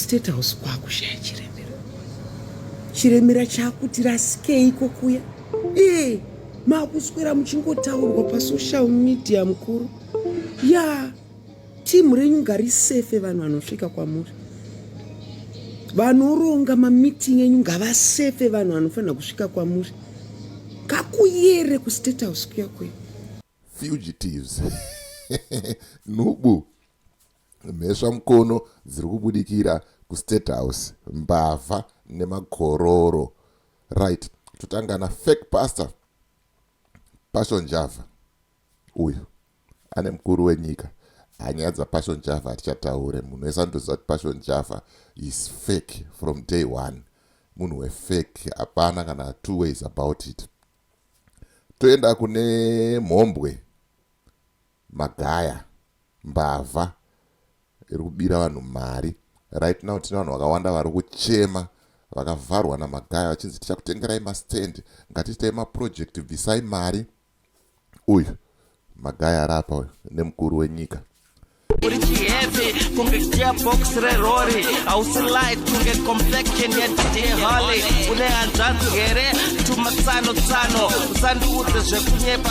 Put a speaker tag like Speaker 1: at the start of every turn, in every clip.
Speaker 1: State House kwakushaya chiremera. Chiremera chakuti rasikei kokuya. Eh, makuswera muchingotaurwa pa social media mukuru. Ya, yeah. team renyu ngari safe vanhu vanosvika kwamuri. Vanoronga ma meeting enyu ngava safe vanhu vanofanira kusvika kwamuri. Kakuyere ku State House kuya kuya. Fugitives.
Speaker 2: Nubu. Mhesva mukono dziri kubudikira kustate house mbavha nemakororo right totanga na fake pastor passion java uyu ane mukuru wenyika hanyaya dzapassion java hatichataure munhu wese anotoziva kuti passion java is fake from day one munhu wefake hapana kana two ways about it toenda kune mhombwe Magaya, mbavha iri kubira vanhu mari. Right now tine vanhu vakawanda vari kuchema vakavharwa naMagaya vachinzi tichakutengerai mastand, ngatiitai maproject, bvisai mari. Uyu Magaya ari apa uyu nemukuru wenyika. Uri
Speaker 3: chiheavy kunge gearbox rerori hausi light kunge complexion yedideholi une hanzvanzi here tumatsano tsano usandiudze zvekunyepa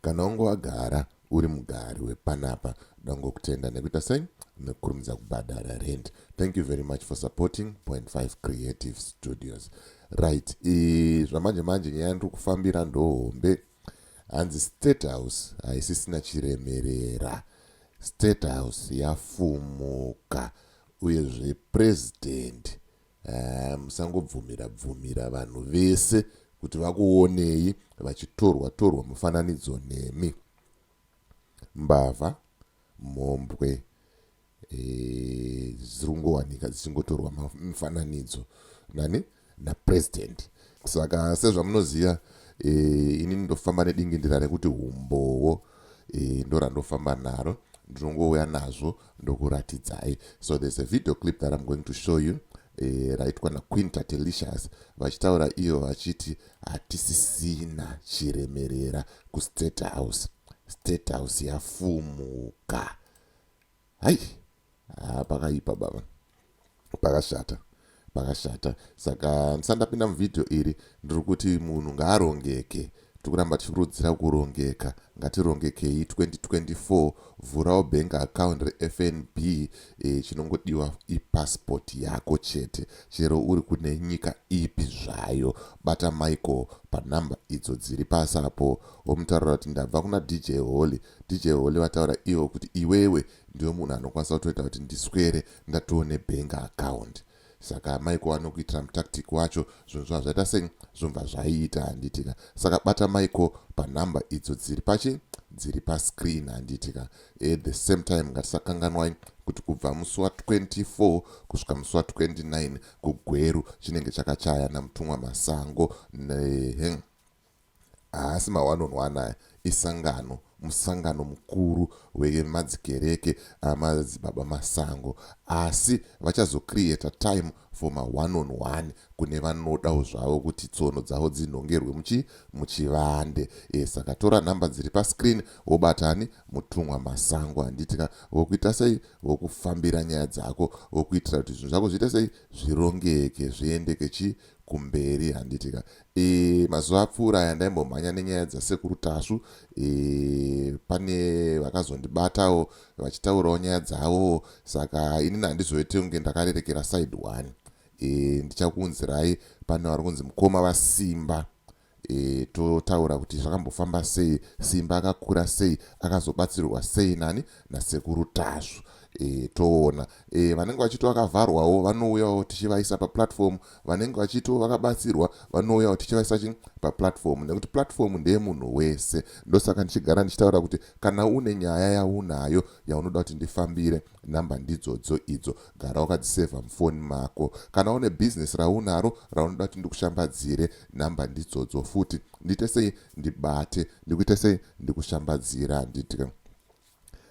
Speaker 2: Kana wange wagara uri mugari wepanapa dangokutenda nekuita sei nekukurumidza kubhadhara rent thank you very much for supporting point 5 creative studios right zvamanje manje nyaya ndiri kufambira ndohombe hanzi state house haisisina chiremerera state house yafumuka uyezve president Haa musangobvumira bvumira vanhu vese kuti vakuonei vachitorwa torwa mufananidzo nemi. Mbavha, mhombwe eh, dziringowanika dzichingotorwa mifananidzo nani napresident. Saka sezvamunoziva eh, ini ndofamba nedingindira rekuti humbowo eh, ndorandofamba naro ndinongouya nazvo ndokuratidzai so there's a video clip that i'm going to show you eh, raitwa naquinta telicious vachitaura ivo vachiti hatisisina chiremerera kustate house state house yafumuka hai ah, pakaipa baba pakashata pakashata saka ndisati ndapinda muvhidhiyo iri ndiri kuti munhu ngaarongeke tiri kuramba tichikurudzira kurongeka ngatirongekei 2024 vhurawo bank account refnb e, chinongodiwa ipassport yako chete chero uri kune nyika ipi zvayo bata michael panhamba idzo dziri pasi apo womutaurira kuti ndabva kuna dj holy dj holy vataura ivo kuti iwewe ndiwe munhu anokwanisa kutoita kuti ndiswere ndatowo nebank account saka amai ko anokuitira mutactic wacho zvinhu zvava zvaita sei zvobva zvaiita handitika saka bata maiko panhamba idzo dziri pachi dziri pascreen handitika at the same time ngatisakanganwai kuti kubva musi wa 24 kusvika musi wa 29 kugweru chinenge chakachaya namutumwa masango nehe Haasi mawanonwa anaya, isangano, musangano mukuru wemadzikereke amadzibaba Masango. Asi vachazo creator time for ma one on one kune vanodawo zvavo kuti tsono dzavo dzinhongerwe muchi, muchivande. Eh saka tora number dziri pa screen wobata ani? Mutumwa Masango handiti ka? Vokuita sei? Vokufambira nyaya dzako vokuitira kuti zvinhu zvako zviite sei? Zvirongeke, zviendeke chii? Kumberi handiti ka? E, mazuva apfuura aya ndaimbomhanya nenyaya dzasekuru tasvu e, pane vakazondibatawo vachitaurawo nyaya dzavo saka inini handizoite kunge ndakarerekera side one e, ndichakuunzirai pane vari kunzi mukoma vasimba e, totaura kuti zvakambofamba sei simba akakura sei akazobatsirwa sei nani nasekuru tasvu e, toona e, vanenge vachiti vakavharwawo vanouyawo tichivaisa paplatform vanenge vachitiwo vakabatsirwa vanouya kuti tichivaisaki paplatform nekuti platform ndeyemunhu wese ndosaka ndichigara ndichitaura kuti kana une nyaya yaunayo yaunoda kuti ndifambire nhamba ndidzodzo idzo gara wakadzisevha mufoni mako kana une business raunaro raunoda kuti ndikushambadzire nhamba ndidzodzo futi ndiite sei ndibate ndikuite sei ndikushambadzira handiti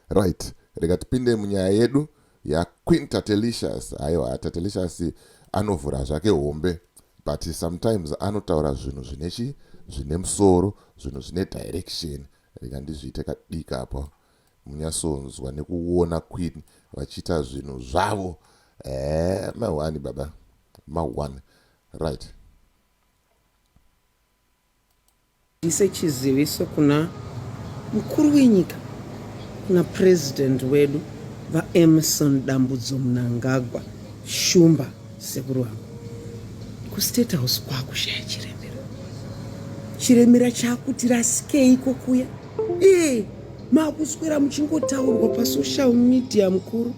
Speaker 2: Right, rega tipinde munyaya yedu yaQueen Tatelicious. Haiwa, Tatelicious anovhura zvake hombe but sometimes anotaura zvinhu zvine chi zvine musoro, zvinhu zvine direction. Rega ndizviite kadika apo munyasonzwa nekuona Queen vachiita zvinhu zvavo. Eh, mahwani baba, mahwani. Right.
Speaker 1: Ndise chiziviso kuna mukuru wenyika kuna president wedu VaEmmerson Dambudzo Mnangagwa Shumba sekuru vangu kustate house kwakushaya chiremera chiremera chakuti rasikei kokuya ee makuswera muchingotaurwa pasocial media mukuru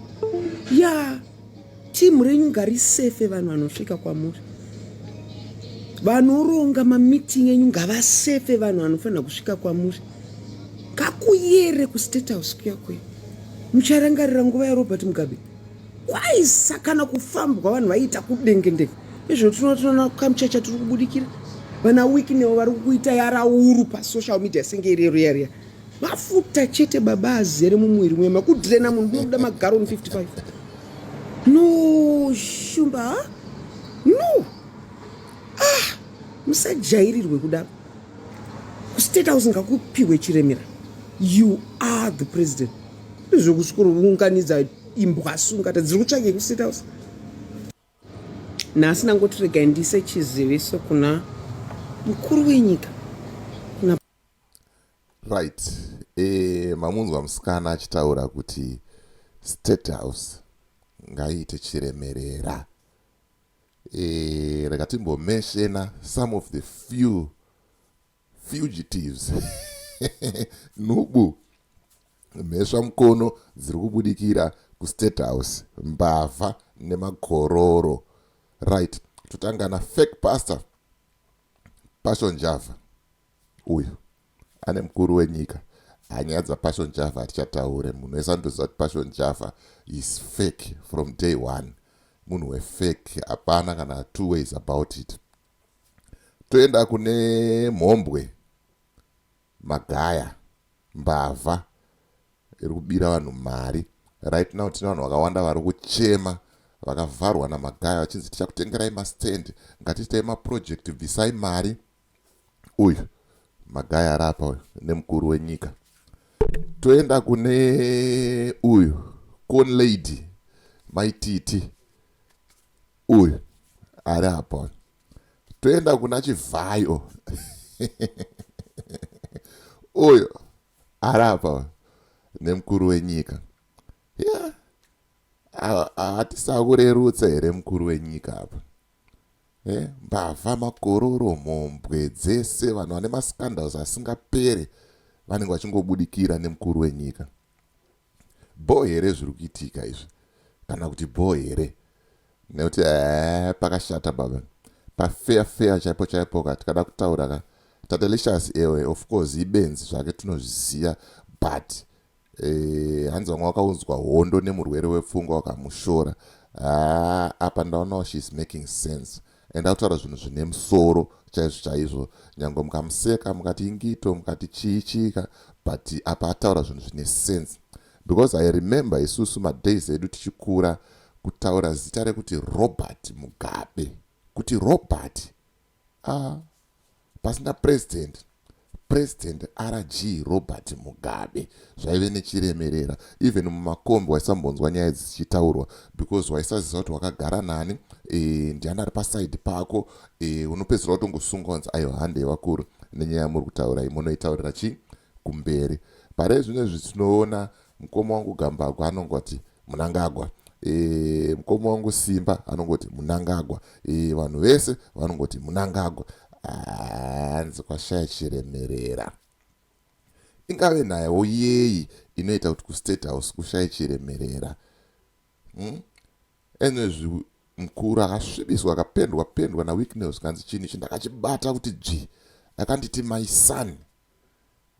Speaker 1: yaa yeah. team renyu ngarisefe vanhu vanosvika kwamuri vanoronga mameeting enyu ngavasefe vanhu vanofanira kusvika kwamuri kakuyere kustate house kuya kuya mucharangarira nguva yarobert mugabe kwaisa kana kufambwa vanhu vaiita kudengendeke izvo tinotoona kamuchacha tiri kubudikira vana wiki newo vari kuita yarauru pasocial media senge irero yariya mafuta chete baba azere mumwiri mwe makudrena munhu munoda magaroni 55 no shumba ha no ah musajairirwe kudaro kustate house ngakupihwe chiremera you are the president zvokusvikounganidza imbwa sungata dziri kutsvage kustate house nhasi ndangotiregai ndise chiziviso kuna mukuru wenyika
Speaker 2: Right. Eh, mamunzwa musikana achitaura kuti state house ngaiite chiremerera. Eh, rega timbomeshena some of the few fugitives nubu mhesva mukono dziri kubudikira kustate house mbavha nemakororo right totanga nafake pastor Passion Java uyu ane mukuru wenyika hanyaya dzapassion java hatichataure munhu wese anotoziva kuti passion java is fake from day one munhu wefake hapana kana two ways about it toenda kune mhombwe Magaya, mbavha iri kubira vanhu mari. Right now tine vanhu vakawanda vari kuchema vakavharwa naMagaya vachinzi tichakutengerai mastand, ngatiitai maproject, bvisai mari. Uyu Magaya ari apa uyu nemukuru wenyika. Toenda kune uyu Corn Lady maititi uyu ari apa uyu. toenda kuna chivhayo uyo arapa nemukuru wenyika ya hatisakurerutsa here mukuru wenyika apa eh, mbavha makororo mhombwe dzese vanhu vane mascandals asingapere vanenge vachingobudikira nemukuru wenyika Bhoo here zviri kuitika izvi kana kuti bhoo here nekuti ee pakashata baba pafeya feya chaipo chaipo ka tikada kutaura ka tatelicious ewe of course ibenzi zvake tinozviziva but eh, hanzi vamwe wakaunzwa hondo nemurwere wepfungwa wakamushora haa apa ndaonawo she is making sense and akutaura zvinhu zvine musoro chaizvo chaizvo nyange mukamuseka mukati ingito mukati chii chiika but apa ataura zvinhu zvine sense because i remember isusu madays edu tichikura kutaura zita rekuti robert mugabe kuti robert ah Pasina President, President RG Robert Mugabe zvaive nechiremerera even mumakombi waisambonzwa nyaya idzi dzichitaurwa because waisaziva kuti wakagara nani e, ndiani ari paside pako e, unopedzisira watongosunga wanzi ayo hande yevakuru nenyaya yamuri kutaura imonoitaurira chii kumberi pare zvino izvi tinoona mukoma wangu gambagwa anongoti munangagwa e, mukoma wangu simba anongoti munangagwa e, vanhu vese vanongoti munangagwa hanzi kwashaya chiremerera ingave nayewo yeyi inoita kuti kustate house kushaye chiremerera hmm? enezvi mukuru akasvibiswa akapendwa pendwa nawicknel zvikanzi chinhu ichi ndakachibata kuti dzvi akanditi my son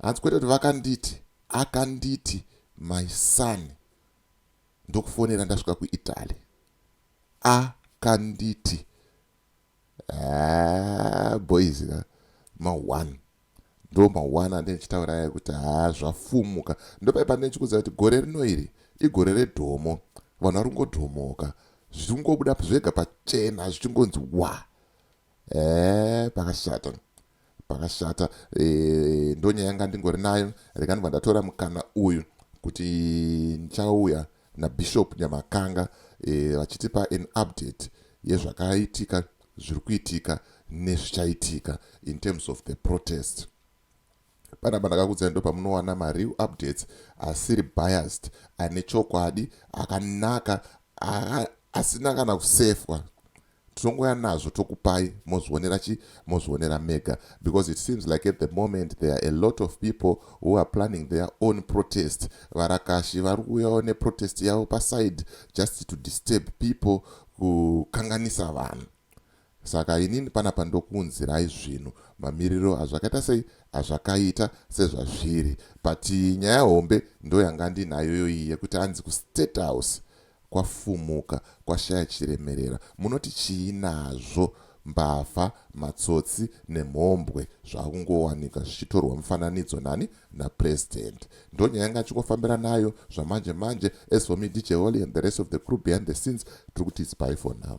Speaker 2: hanzi kwete kuti vakanditi akanditi my son ndokufonera ndasvika kuitaly akanditi ah, boys eh, ma1 ndo ma1 ande ndichitaura aya kuti haa ah, zvafumuka ndopai pane ndichikuziva kuti gore rino iri igore redhomo vanhu vari kungodhomoka zvichingobuda zvega pachena zvichingonzi wa ee eh, pakashata Pakashata eeh ndonyaya yanga ndingori nayo rega ndibva ndatora mukana uyu kuti ndichauya naBishop Nyamakanga eh, vachitipa an update yezvakaitika zviri kuitika nezvichaitika in terms of the protest panapa ndakakudzai ndo pamunowana mareal updates asiri biased ane chokwadi akanaka asina kana kusefwa tinongouya nazvo tokupai mozvionera chi mozvionera mega because it seems like at the moment there are a lot of people who are planning their own protest varakashi vari kuuyawo neprotest yavo paside just to disturb people kukanganisa vanhu saka inini panapa ndokuunzirai zvinhu mamiriro azvakaita sei azvakaita sezvazviri but nyaya hombe ndoyanga ndinayoyoyi yekuti hanzi kustate house kwafumuka kwashaya chiremerera munoti chii nazvo mbavha matsotsi nemhombwe zvakungowanika zvichitorwa mufananidzo nani napresident ndonyaya yanga achingofambira nayo zvamanje manje as for me dj holy and the rest of the crew behind the scenes tiri kuti its by for now